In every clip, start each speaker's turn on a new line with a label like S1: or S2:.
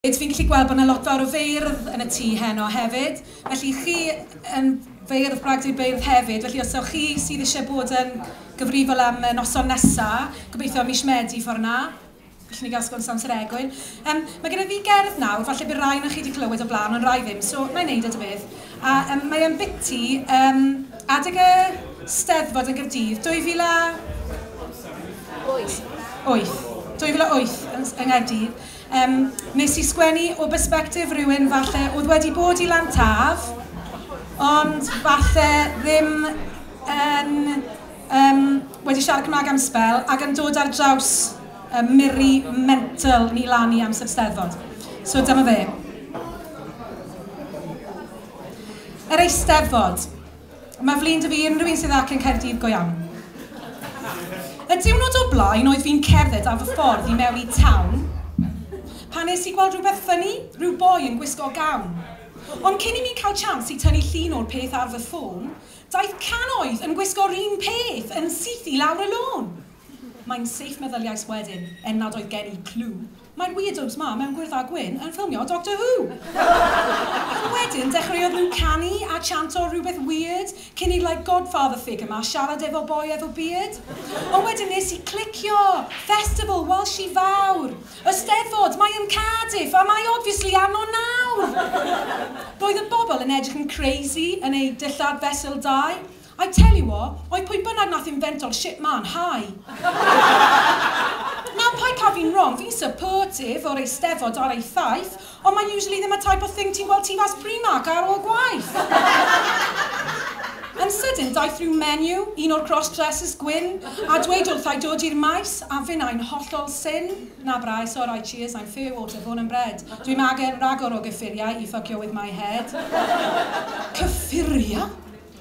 S1: Rydw i'n gallu gweld bod yna lot fawr o feirdd yn y tŷ heno hefyd, felly chi yn feirdd gwag dwy beirdd hefyd, felly os ywch chi sydd eisiau bod yn gyfrifol am y noson nesaf, gobeithio mis Medi ffordd 'na, gallwn ni gael sgwrs am Sir Egwyn. Yym mae genna fi gerdd nawr, falle bydd rai ohonoch chi wedi clywed o blaen ond rai ddim, so na i wneud e ta beth. A yym mae o'n biti yym adeg y Steddfod yn Gaerdydd 2000 a... wyth. ...wyth. 2008 yn Nghaerdydd. Yym, wnes i sgwennu o bersbectif rywun falle oedd wedi bod i Lan Taf, ond falle ddim yn yym wedi siarad Cymraeg am sbel ac yn dod ar draws y miri mental ni lan i amser Steddfod. So dyma fe. Yr Eisteddfod. Mae flin da fi unrhyw un sydd ac yn Caerdydd go iawn. Y diwrnod o blaen oedd fi'n cerdded ar fy ffordd i mewn i town pan nes i gweld rhywbeth funny, rhyw boi yn gwisgo gown. Ond cyn i mi cael chance i tynnu llun o'r peth ar fy ffôn, daeth can oedd yn gwisgo run peth yn syth i lawr y lôn! Mae'n safe meddyliais wedyn, er nad oedd gen i clue. Mae'r weirdos 'ma mewn gwyrdd a gwyn yn ffilmio Doctor Who! Ond wedyn dechreuodd nhw canu a chantio rhywbeth weird cyn i'r like godfather figure 'ma siarad efo boi efo beard. Ond wedyn nes i clicio! Festival Welshi fawr! Y Steddfod! Mae yn Cardiff! A mae obviously yno nawr! Roedd y bobl yn edrych yn crazy yn eu dillad fesul dau. I tell you what, oedd pwy bynnag nath invento'r shit ma'n high. Now paid cael fi'n wrong, fi'n supportive o'r Eisteddfod ar ei thaith, ond mae usually ddim y type of thing ti'n gweld tu fas Primark ar ôl gwaith. Yn sydyn daeth rhyw menu, un o'r cross dresses gwyn, a dweud wrtha i dod i'r maes, a finnau'n hollol syn, na braidd, sorau, cheers, I'm fair water, born and bred, dwi magen ragor o gyffuriau i ffycio with my head. Cyffuriau?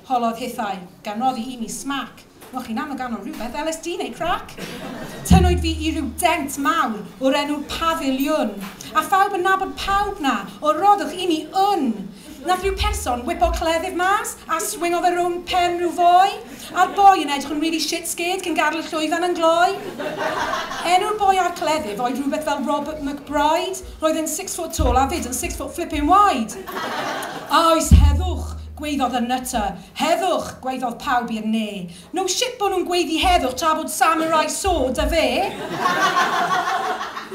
S1: Holodd hithau, gan roddi i mi smac, Moch chi'n am y ganol rhywbeth, LSD neu crac? Tynnwyd fi i ryw dent mawr, o'r enw Pafiliwn, A phawb yn nabod pawb 'na, o roddwch i mi wn! Nath ryw person wipo cleddyf mas, A swingo fe rownd pen ryw foi, A'r boi yn edrych yn rili shit scared, Cyn gadl y llwyfan yn gloi. Enw'r boi a'r cleddyf oedd rhywbeth fel Robert McBride, Roedd e'n six foot tall a 'fyd yn six foot flippin wide! A oes heddwch? Gwaeddodd y Nutter, Heddwch! Gwaeddodd pawb i'r ne. No shit bo' nhw'n gwaeddu heddwch tra bod Samurai So 'da fe!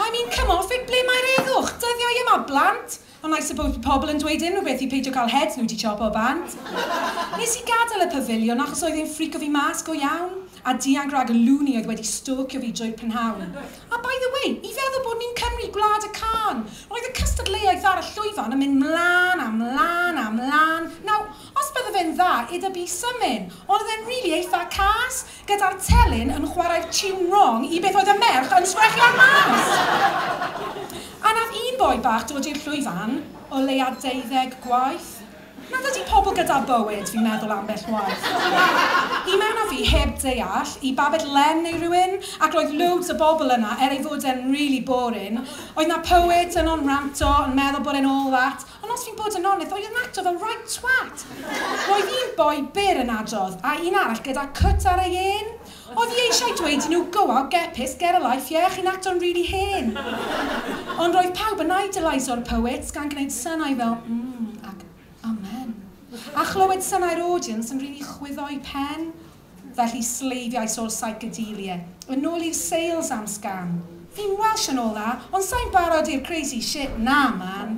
S1: I mean come off it, ble mae'r heddwch? Dyddiau yma, blant! Ond I suppose bydd pobl yn dweud unrhyw beth i peidio cael heads nhw 'di chopo bant. Nes i gadael y pafiliwn achos oedd e'n ffrico fi mas go iawn, a dianc rhag y loony oedd wedi stalcio fi drwy'r prynhawn. A by the way, i feddwl bod ni'n Cymru, Gwlad y Cân! Roedd y cystadleuaeth ar y llwyfan yn mynd 'mlan a 'mlan a 'mlan. Nawr, os bydde fe'n dda i da bys symyn, ond oedd e'n rili eitha cas, gyda'r telyn yn chwarae'r tiwn rong i beth oedd y merch yn sgrechian ar mas! A nath un boi bach dod i'r llwyfan o leia deuddeg gwaith. Mae dydy pobl gyda bywyd fi'n meddwl ambell waith. I mewn a fi heb deall, i Babett Len neu rywun, ac roedd loads o bobl yna er ei fod e'n really boring. Oedd 'na poets yno'n ranto, yn meddwl bod e'n all that. Ond os fi'n bod yn onest, oedd yn acto fel right twat. Roedd un boi byr yn adrodd, a un arall gyda cwt ar ei ên. O fi eisiau dweud i nhw go out get pissed get a life yeah chi'n acto'n rili hen! Ond roedd pawb yn idolaiso'r poets gan gwneud synau fel mm ac amen a chlywed synau'r audience yn rili chwyddo i pen felly sleifiais ôl psychedelia yn ôl i'r sales am sgan fi'n welsh and all that ond sai'n barod i'r crazy shit na man!